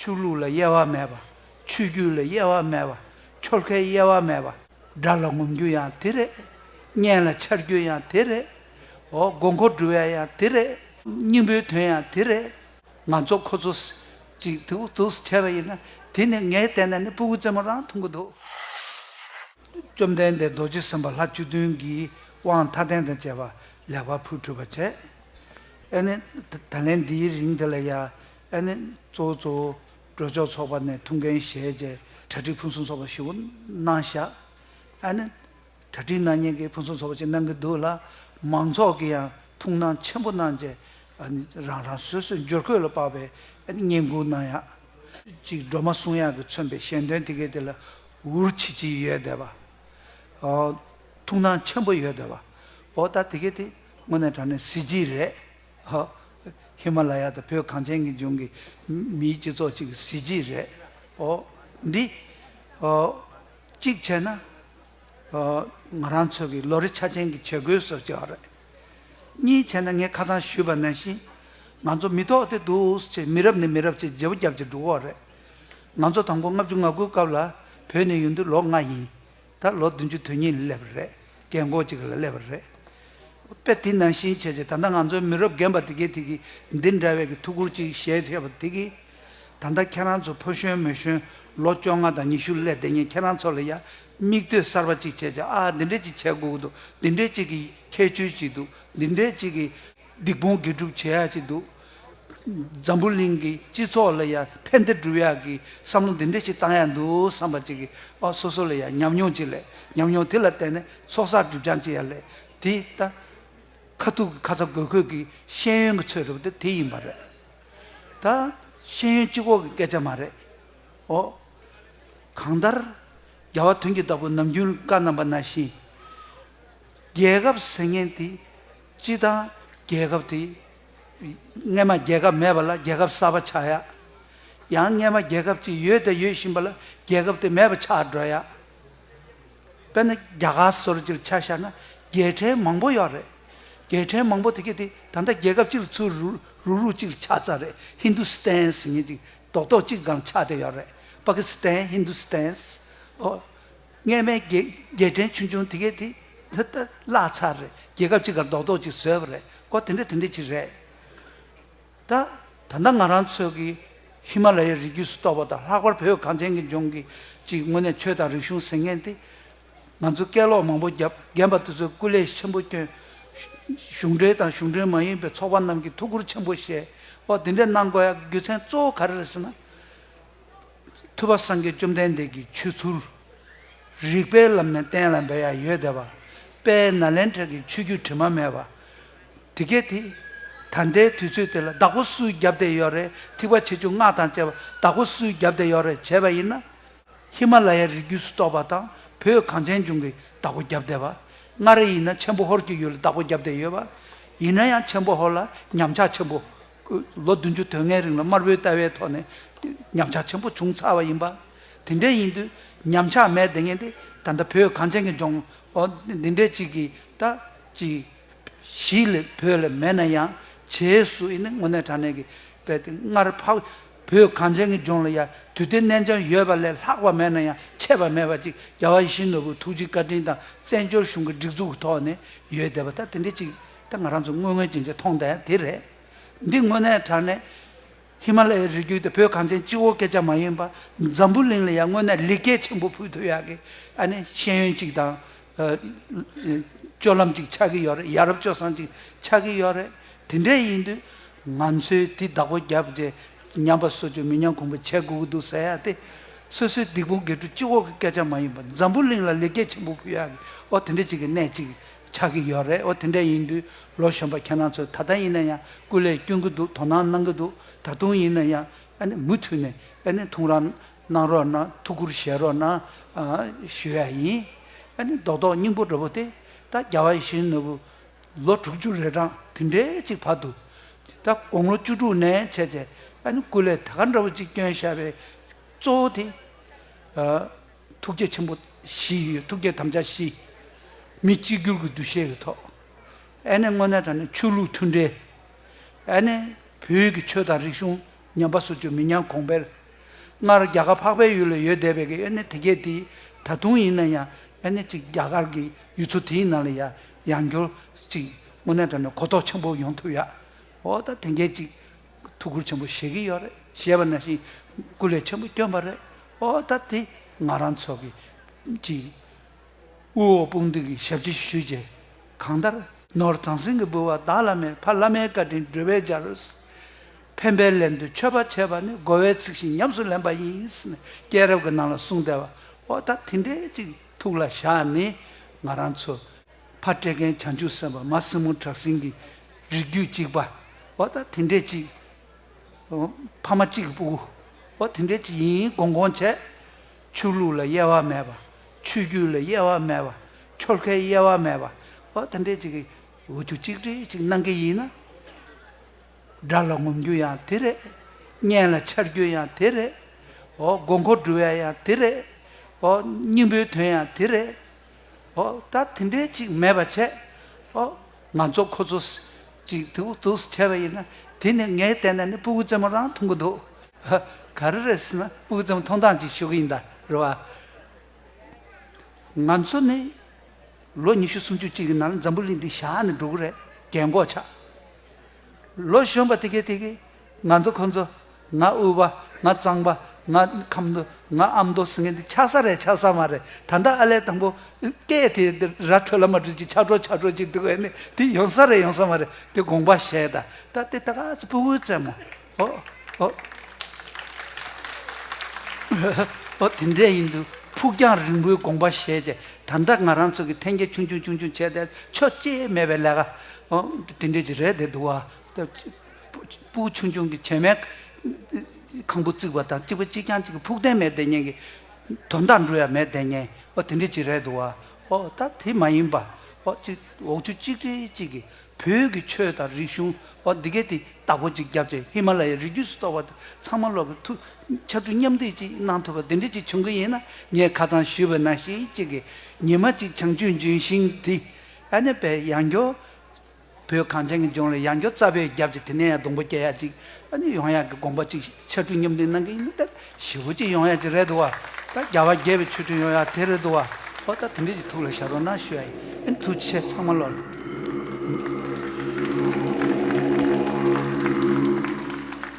ཆོས་ལུགས་ལ་དབྱེ་བ་མེད་པ། ཆོས་བརྒྱུད་ལ་དབྱེ་བ་མེད་པ། ཆོལ་ཁའི་དབྱེ་བ་མེད་པ། སྒྲ་ལ་ངོམ་རྒྱུ་ཡང་དེ་རེད། བརྙན་ལ་འཆར་རྒྱུ་ཡང་དེ་རེད། འོ་མགོ་མཁོ་འབྲི་བའི་ཡང་དེ་རེད། སྙིང་པོའི་དོན་ཡང་དེ་རེད། ང་ཚོ་ཁོ་ཚོ། ཅིག་དུག་དུག་བྱས་པ་ཡིན་ན། དེ་ནི་ངས་བལྟས་ན་ནི་སྤུ་གུ་རྩེ་མོ་རང་འཐུང་གི་འདུག། བཅོམ་ལྡན་འདས་རྡོ་རྗེ་སེམས་དཔའ་ལྷ་བཅུ་བདུན་གྱིས་དབང་མཐའ་རྟེན་དང་བཅས་པ་ལེགས་པར་ཕུལ་གྲུབ་པར་བྱས། ཨེ་ནི། ད་ལན་འདིའི་རིང་འདི་ལ་ཡ། ཨན་ནི་གཙོ་བོ་གཙོ་བོ་གྲོས་ཚོགས་ཚོགས་པ་ནས་ཐུགས་འགན་བཞེས་རྗེས་གྲ་སྒྲིག་ཕུན་སུམ་ཚོགས་པ་ཞུ་གནང་བཞག་ཨན་ནི་གྲ་སྒྲིག་གནང་ཉེན་གྱི་ཕུན་སུམ་ཚོགས་པ་ཅིག་གནང་གི་འདུག་ལ་མང་ཚོགས་ཀྱིས་ཡང་ཐུགས་སྣང་ཆེན་པོ་གནང་རྗེས་ཨན་ནི་རང་རང་སོ་སོའི་འབྱོར་འཁོས་ལ་དཔག་པའི་ཨན་ནི་བསྙེན་བཀུར་གནང་ཡག་ཅིག་སྒྲོལ་མ་གསུང་དབྱངས་ཀྱིས་མཚོན་པའི་གཞན་དོན་དེ་གའི་དེ་ལ་འུར་ཆིལ་ཆིལ་ཡོད་དེ་བ། ཐུགས་སྣང་ཆེན་པོ་ཡོད་དེ་བ། འོ་ད་དེ་གའི་དེ་དངོས་གནས་དྲང་གནས་གཟི་བརྗིད་རེད། ཧི་མ་ལ་ཡ་དང་བོད་གངས་ཅན་གྱི་ལྗོངས་ཀྱི་མིའི་སྤྱི་ཚོགས་ཅིག་གི་གཟི་བརྗིད་རེད། འདི་གཅིག་བྱས་ན་ང་རང་ཚོ་གི་ལོ་རེ་ཆ་ཅན་གྱི་བྱེད་སྒོའི་སོར་བྱེད་བ་རེད། གཉིས་བྱས་ན་ངས་ཁ་ཚང་ཞུས་པ་ནས་བཞིན་ང་ཚོ་མི་ཐོག་དེ་འདུག་ཅེས་མི་རབས་ནས་མི་རབས་ཅིག་བརྗེ་པོ་བརྒྱབ་ཅིག་འགྲོ་གི་བ་རེད། ང་ཚོ་དང་པོ་ལྔ་བཅུ་ང་དགུའི་སྐབས་ལ་བོད་ནས་ཡོང་དུས་ལོ་ལྔ་ཡིན། ད་ལོ་བདུན་ཅུ་དོན་གཉིས་ལ་སླེབས་པ་རེད། རྒན་འཁོགས་གཅིག་ལ་སླེབས་པ་རེད། དཔེ་དེ་ནང་བཞིན་བྱས་རྗེས་ད་ལྟ་ང་ཚོའི་མི་རབས་རྒན་པ་དེ་གས་དེ་གིས་འདི་འདྲ་བའི་གི་ཐུགས་ཁུར་ཅིག་བཞེས་མཁས་པ་དེ་གིས། ད་ལྟ་ཁྱེད་རང་ཚོ་ཕོ་གཞོན་མོ་གཞོན་ལོ་བཅོ་ལྔ་དང་ཉི་ཤུ་སླེ་བསྡད་ཉིན་ཁྱེད་རང་ཚོ་ལ་ཡ་མིག་ལྟོས་གསར་པ་ཅིག་བྱས་རྗེས་ཨ་འདི་འདྲས་ཅིག་བྱས་དགོས་ཀྱི་འདུག་འདི་འདྲས་ཅིག་གི་ཁྱད་ཆོས་ཅིག་འདུག་འདི་འདྲས་ཅིག་གི་སྡིག་སྤོང་དགེ་སྒྲུབ་བྱེད་ཡ་ཅིག་འདུག། འཛམ་བུ་གླིང་གི་སྤྱི་ཚོགས་ལ་ཡང་ཕན་བདེ་བསྒྲུབ་ཡག་གི་བསམ་བློ་འདི་འདྲ་ཞིག་བཏང་ཡག་འདུག་བསམ་པ་ཅིག་གིས་ཨོ་སོ་སོ་ལ་ཡང་ཉམས་མྱོང་ཅིག་ལས་ཉམས་མྱོང་དེ་ལ་བརྟེན་ནས་ཚོགས་བསགས་སྒྲིབ་སྦྱང་བྱེད་ཡག་ལས་དེ་ལྟ། ཁ་ཐུག་གི་ཁ་ཚ་དགོས་གོས་ཀྱི་ཤེས་ཡོན་གྱི་ཚོད་རེད་པ་དེ་ཡིན་པ་རེད། ད་ཤེས་ཡོན་སྤྱི་ཁོག་གི་སྐད་ཆ་མ་རེད། ཨོ། གང་ལྟར། རྒྱ་བ་དོན་གྱི་བདག་པོ་ནམ་རྒྱུན་བཀའ་གནང་པ་ན་བཞིན། རྒྱལ་ཁབ་ཟེར་མཁན་དེ་སྤྱི་དང་རྒྱལ་ཁབ་དེ་རྔན་མ་རྒྱལ་ཁབ་མེད་པ་ལ་རྒྱལ་ཁབ་གསར་པ་ཆགས་ཡ། ཡང་རྔན་མ་རྒྱལ་ཁབ་ཅིག་ཡོད་དེ་ཡོད་བཞིན་པ་ལ་རྒྱལ་ཁབ་དེ་མེད་པ་ཆགས་འགྲོ་ཡ། དཔེར་ན་རྒྱ་གར་སོར་ཅིག་ཆ་བཞག་ན་རྒྱལ་ཕྲན་མང་པོ་ཡོད་རེད། རྒྱལ་ཕྲན་མང་པོ་དེ་གས་དེ་ད་ལྟ་རྒྱལ་ཁབ་ཅིག་ལ་ཚུར་རུག་རུག་རུག་ཅིག་ལ་ཆགས་ཚར་རེད Hindustan ཟེར་ངེས་ཅིག་རྡོག་རྡོག་ཅིག་གང་ཆགས་དེ་ཡོད་རེད Pakistan Hindustan། སྔས་མའི་རྒྱལ་ཕྲན་ཆུང་ཆུང་དེ་གས་དེ་འདི་ལྟར་བརླག་ཚར་རེད་རྒྱལ་ཁབ་ཅིག་གར་རྡོག་རྡོག་ཅིག་བཟོས་པ་རེད་སྐོར་དེ་འདྲ་དེ་འདྲ་ཅིག་རེད། ད་ད་ལྟ་ང་རང་ཚོས་ཀྱི་ཧི་མ་ལ་ཡའི་རི་རྒྱུད་སུ་གཏོགས་པ་དང་ལྷག་པར་བོད་གངས་ཅན་གྱི་ལྗོངས་ཀྱི་ཅིག་དངོས་གནས་ཆོས་དང་རིག་གཞུང་ཟེར་མཁན་དེ་ང་ཚོ་སྐད་ལོག་མང་པོ་རྒྱབ་རྒན་པ་དེ་ཚོའི་སྐུ་ལས་ཆེན་པོ་སྐྱོན། གཞུང་འབྲེལ་དང་གཞུང་འབྲེལ་མ་ཡིན་པའི་ཚོགས་པ་རྣམས་ཀྱིས་ཐུགས་ཁུར་ཆེན་པོ་བཞེས་སྐོར་དེ་འདྲ་གནང་དགོས་ཡ་རྒྱུ་མཚན་གཙོ་བོ་ག་རེ་རེད་ཟེར་ན། ཐུབ་པ་སངས་རྒྱས་བཅོམ་ལྡན་འདས་ཀྱི་ཆོས་ཚུལ། རིགས་པའི་ལམ་ནས་གཏན་ལ་འབེབས་ཡང་ཡོད་དད་པ། དཔལ་ནཱ་ལེནྡྲ་གྱི་ཆོས་བརྒྱུད་དྲི་མ་མེད་པ། དེ་སྐད་དེ། ད་ལྟའི་དུས་ཚོད་དེ་ལ་བདག་པོ་སུའི་རྒྱབ་བདེ་ཡོད་རེད་ཐིགས་པ་ཆེ་ཆུང་སྔགས་དང་བཅས་པ་བདག་པོ་སུའི་རྒྱབ་བདེ་ཡོད་རེད་བྱས་པ་ཡིན་ན། ཧི་མ་ལ་ཡའི་རི་རྒྱུད་སུ་གཏོགས་པ་དང་བོད་གངས་ཅན་ལྗོངས་ཀྱི་བདག་པོ་རྒྱབ་བདེ་བ། མངའ་རིས་ཡིན་ན་ཆེན་པོ་ཧོར་གྱི་ཡུལ་ལ་བདག་པོ་རྒྱབ་བདེ་ཡོད་པ། ཡིན་ན་ཡང་ཆེན་པོ་ཧོར་ལ་ཉམས་ཆག་ཆེན་པོ་ལོ་བདུན་ཅུ་དོན་ལྔའི་རིང་ལ་དམར་པོའི་ལྟ་བའི་ཐོག་ནས་ཉམས་ཆག་ཆེན་པོ་བྱུང་ཚར་བ་ཡིན་པ། དེ་འདྲའི་ཡིན་དུས་ཉམས་ཆག་མེད་བདེ་ངན་དེ་ད་ལྟ་བོད་གངས་ཅན་གྱི་ལྗོངས་འོག་འདི་འདྲའི་ཅིག་གི་ད་ཅི། གཞིས་ལས་བོད་ལས་མེད་ན་ཡང་བྱེས་སུ་ཡིན་ནི་དངོས་གནས་དྲང་གནས་ཀྱི་དཔེ་དེ་སྔར་འཕགས། བོད་གངས་ཅན་གྱི་ལྗོངས་ལ་ཡ་དུས་དེ་གནས་འཆམ་ཡོད་པ་ལས་ལྷག་པ་མེད་ན་ཡང་ཆད་པ་མེད་པ་ཅིག་རྒྱ་བ་ཡིད་བཞིན་ནོར་བུ་ཐུགས་རྗེའི་བཀའ་དྲིན་དང་བཙན་བྱོལ་གཞུང་གི་སྒྲིག་འཛུགས་ཀྱི་ཐོག་ནས་ཡོད་བསྡད་པ་ད་དེ་འདྲའི་ཅིག་དེ་ང་རང་ཚོས་དངོས་དངོས་ཅན་ཅན་མཐོང་ལྟ་དེ་རེད། འདི་དངོས་གནས་དྲ་གནས། ཧི་མ་ལ་ཡའི་རི་རྒྱུད་དེ་བོད་གངས་ཅན་སྤྱི་བོ་སྐད་ཆ་མ་ཡིན་པ། འཛམ་བུ་གླིང་ལ་ཡང་དངོས་གནས་ལེགས་སྐྱེས་ཆེན་པོ་ཕུལ་ཐུབ་ཡག་གི། ཨ་ནི་ཤེས་ཡོན་ཅིག་དང། སྤྱོད་ལམ་ཅིག་ཆགས་ཀྱི་ཡོད་རེད་ཡ་རབས་སྤྱོད་བཟང་ཅིག་ཆགས་ཀྱི་ཡོད་རེད། དེ་འདྲས་ཡིན་དུས། ང་ཚོས་དེ་བདག་པོ་རྒྱབ་རྗེས། ཉམས་པ་གསོ་བཅོས་མི་ཉམས་གོང་བུ་བྱས་དགོས་ཀྱི་འདུག་ཟེར་ཡག་སྟེ། སོ་སོའི་སྡིག་སྤོང་དགེ་ཕྲུག་སྤྱི་བོ་གི་སྐད་ཆ་མ་ཡིན་པ་འཛམ་བུ་གླིང་ལ་ལེགས་སྐྱེས་ཆེན་པོ་ཕུལ་ཡག་གི། ཨོ་དེ་འདྲས་ཅིག་གི་གནས་ཅིག་ཆགས་ཀྱི་ཡོད་རེད་འོ་དེ་འདྲ་ཡིན་དུས་ལོ་གཞོན་པ་ཁྱེད་རང་ཚོས་ད་ལྟ་ཡིན་ན་ཡང་སྐུ་ལས་བསྐྱོན་གྱི་འདུག་དོ་སྣང་གནང་གི་འདུག་ད་དུང་ཡིན་ན་ཡང་ཨ་ནི་མུ་མཐུད་ནས་ཨ་ནི་ཐུགས་རང་གནང་རོགས་གནང་ཐུགས་ཁུར་བཞེས་རོགས་གནང་ཞུ་ཡ་ཡིན། ཨ་ནི་རྡོག་རྡོག་སྙིང་པོ་འདྲ་བོ་དེ་ད་རྒྱ་བ་ཞིག་ནོར་བུ་ལོ་དྲུག་ཅུ་རེ་གྲངས་དེ་འདྲའི་ཅིག་བབས་འདུག་ད་དགོང་ལོ་བཅུ་དྲུག་ནས་བྱས་ཚེ་ཨ་ནི་སྐུ་ལས་ད་ག་འདྲ་བོ་ཅིག་བསྐྱོན་ཤ་བའི་གཙོ་བོ་དེ། ཐུགས་རྗེ་ཆེན་པོ་བཞི་ཡོད་ཐུགས་རྗེ་དམ་བཅའ་བཞི། མི་གཅིག་གྱུར་གྱི་འདུ་ཤེས་ཀྱི་ཐོག་ཨ་ནེ་དངོས་གནས་དང་ནི་ཆོས་ལུགས་མཐུན་འབྲེལ། ཨ་ནེ་བོད་ཀྱི་ཆོས་དང་རིག་གཞུང་ཉམས་པ་བཟོ་བཅོས་མི་ཉམས་གོང་འཕེལ། སྔར་རྒྱ་གར་འཕགས་པའི་ཡུལ་ལ་ཡོད་བསྡད་པའི་གི་ཨ་ནེ་དེ་གས་དེ་ད་དུང་ཡིན་ན་ཡང་ཨ་ནེ་གཅིག་རྒྱ་གར་གྱི་ཡུལ་ཚོ་དེའི་ནང་ལ་ཡ་ཡང་འགྱུར་ཅིག་དངོས་གནས་དང་ནི་གོ་རྟོགས་ཆེན་པོ་ཡོང་ཐུབ་ཡ་འོ་ད་དེ་འགས་ཅིག་ཐུགས་ཁུར་ཆེན་པོ་བཞེས་ཀྱི་ཡོད་རེད་བཞེས་པ་ནང་བཞིན་སྐུ་ལས་ཆེན་པོ་བསྐྱོན་པ་རེད་ཨོ་ད་དེ་ང་རང་ཚོ་གི་ཀྱི་དབུ་འོག་དཔུང་སྡེ་གི་ཞབས་ཕྱི་ཞུ་རྗེས་གང་ལྟར། ནོར་བྱང་སེང་གེ་འབུལ་བ་བདག་བླ་མས་ཕ་བླ་མའི་བཀའ་དྲིན་བསྒྲུབས་པའི་རྒྱ་རུ། ཕན་པའི་ལན་དུ་མཆོད་པ་བྱས་པ་ནི་དགོས་བའི་ཚིག་བཞིན་ཉམས་སུ་ལེན་པ་ཡིན་ཟེར་ནས་སྐྱེས་རབས་ཀྱི་ནང་ལ་གསུངས་བསྡད་པ་ཨོ་ད་དེ་འདྲས་ཅིག་ཐུགས་ལ་བཞག་ནས་ང་རང་ཚོ་ཕ་སྤྲད་མཁན་བྱང་ཆུབ་སེམས་དཔའ་མ་སྲིན་མོ་བྲག་སྲིན་གྱི་རིགས་རྒྱུད་གཅིག་པ། བ་ད་དེ་འདྲས་ཅིག། ཕ་མ་གཅིག་གི་སྤུ་གུ། བ་དེ་འདྲས་ཅིག་ཡིན་དགོངས་དགོངས་བྱས། ཆོས་ལུགས་ལ་དབྱེ་བ་མེད་པ། ཆོས་བརྒྱུད་ལ་དབྱེ་བ་མེད་པ། ཆོལ་ཁའི་དབྱེ་བ་མེད་པ། བ་དེ་འདྲས་ཅིག་གིས་འུ་ཆུ་གཅིག་འདྲེས་ཅིག་གནང་གི་ཡིན་ན། དགྲ་ལ་ངོམ་རྒྱུ་ཡང་དེ་རེད། གཉེན་ལ་འཆར་རྒྱུ་ཡང་དེ་རེད། ཨོ་དགོས་མཁོ་འདྲུ་བའི་ཡང་དེ་རེད། ཨོ་སྙིང་པོའི་དོན་ཡང་དེ་རེད། ཨོ། ད་དེ་འདྲའི་ཅིག་མེད་པར་བྱས། ཨོ། ང་ཚོ་ཁོ་ཚོ། ཅིག་དུག་དུག་བྱས་པ་ཡིན་ན། དེ་ནི་ངས་བལྟས་ན་ནི་སྤུ་གུ་རྩེ་མོ་རང་མཐོང་གི་འདུག། ཧ། ག་རེ་རེད་ཟེར་ན་སྤུ་གུ་རྩེ་མོ་མཐོང་སྟངས་ཅིག་ཞུ་གི་ཡིན་ད་རེད་བ། ང་ཚོ་ནི། ལོ་ཉི་ཤུ་སུམ་ཅུ་ཅིག་གི་ནང་ལ་འཛམ་བུ་གླིང་འདི་བཞག་ནས་འགྲོ་གི་རེད་རྒན་འགོག་ཆགས། ལོ་གཞོན་པ་དེ་གས་དེ་གས། ང་ཚོ་ཁོ་ཚོ། ང་དབུལ་བ། ང་གཙང་པ། ང་ཁམས་མདོ། ང་ཨ་མདོ་ཟེར་མཁན་དེ་ཆགས་ས་རེད་ཆགས་ས་མ་རེད་ད་ལྟ་ཨ་ལས་དང་པོ། སྐད་དེ་ར་འཕྲོད་ལ་མ་འཕྲོད་ཅིག་ཆགས་འགྲོ་ཆགས་འགྲོ་ཅིག་འདུག་ཨེ་ནི་དེ་ཡོང་ས་རེད་ཡོང་ས་མ་རེད་དེ་དགོངས་པ་བཞེས་ད་ལྟ་དེ་ད་ག་ཚོད་སྤུ་བོའི་རྩེད་མོ། ཨོ། ཨོ། ཨོ་དེ་འདྲས་ཡིན་འདུག་ཕུགས་རྒྱང་རིང་པོའི་དགོངས་པ་བཞེས་རྗེས་ད་ལྟ་ང་རང་ཚོ་གི་འཐེན་འཁྱེར་ཆུང་ཆུང་ཆུང་ཆུང་བྱས་ཏེ་ཆོ་གཅེས་མེད་པའི་ལས་ཀ། ཨོ་དེ་འདྲས་ཅིག་རེད་དེ་འདུག་བ། སྤུ་ཆུང་ཆུང་གི་བྱེ་མའི་ཁང་བུ་བརྩིགས་པ་དང་གཅིག་པུ་གཅིག་རྐྱང་གཅིག་གི་ཕུགས་བརྟན་མའི་བདེ་ཉེན་གྱི། དོན་དག་འབྲུ་ཡང་མའི་བདེ་ཉེན་ཨོ་དེ་འདྲའི་གཅིག་རེད་འདུག་བ། ཨོ་ད་དེ་མ་ཡིན་པ། ཨོ་གཅིག་འོག་ཆུ་གཅིག་རི་གཅིག་གི་བོད་ཀྱི་ཆོས་དང་རིག་གཞུང་ཨོ་འདི་གའི་དེ་བདག་པོ་གཅིག་རྒྱབ་ཅིང་ཧི་མ་ལ་ཡའི་རི་རྒྱུད་སུ་གཏོགས་པ་དེ་ཚང་མ་ལོག་གི་ཐུ། ཆ་ཚུལ་མཉམ་འདེགས་གཅིག་གནང་ཐུབ་པ་འདི་འདྲའི་གཅིག་བྱུང་གི་ཡིན་ན་ངས་ཁ་ཚང་ཞུས་པ་ན་ཤིག་གཅིག་གི་ཉི་མ་གཅིག་བྱང་ཆུབ་འབྱུང་ཞིང་དེ། ཨ་ནེ་པའི་ཡང་སྐྱོ། བོད་གངས་ཅན་གྱི་ལྗོངས་ལ་ཡང་སྐྱོ་རྩ་བའི་རྒྱབ་ཀྱི་དེ་ནས་ཡང་སྡོང་པོ་སྐྱེ་ཡག་ཅིག་ཨ་ནི་ཡོང་ཡག་གི་དགོངས་པ་ཅིག་ཕྱར་གྲུ་མཉམ་འདེགས་གནང་གི་ཡིན་ནི་ད་ཞི་བོ་ཅིག་ཡོང་ཡག་ཅིག་རེད་འདུག་བ་ད་རྒྱ་བ་རྒྱལ་བའི་ཆོས་ཁྲིམས་ཡོང་ཡག་དེ་རེད་འདུག་བ་ཧོ་ད་དེ་འདྲས་ཅིག་ཐུགས་ལ་ཞགས་རོགས་གནང་ཞུ་ཡག་ཡིན་ཐུགས་རྗེ་ཆེ་ཚང་མ་བློ་ལ།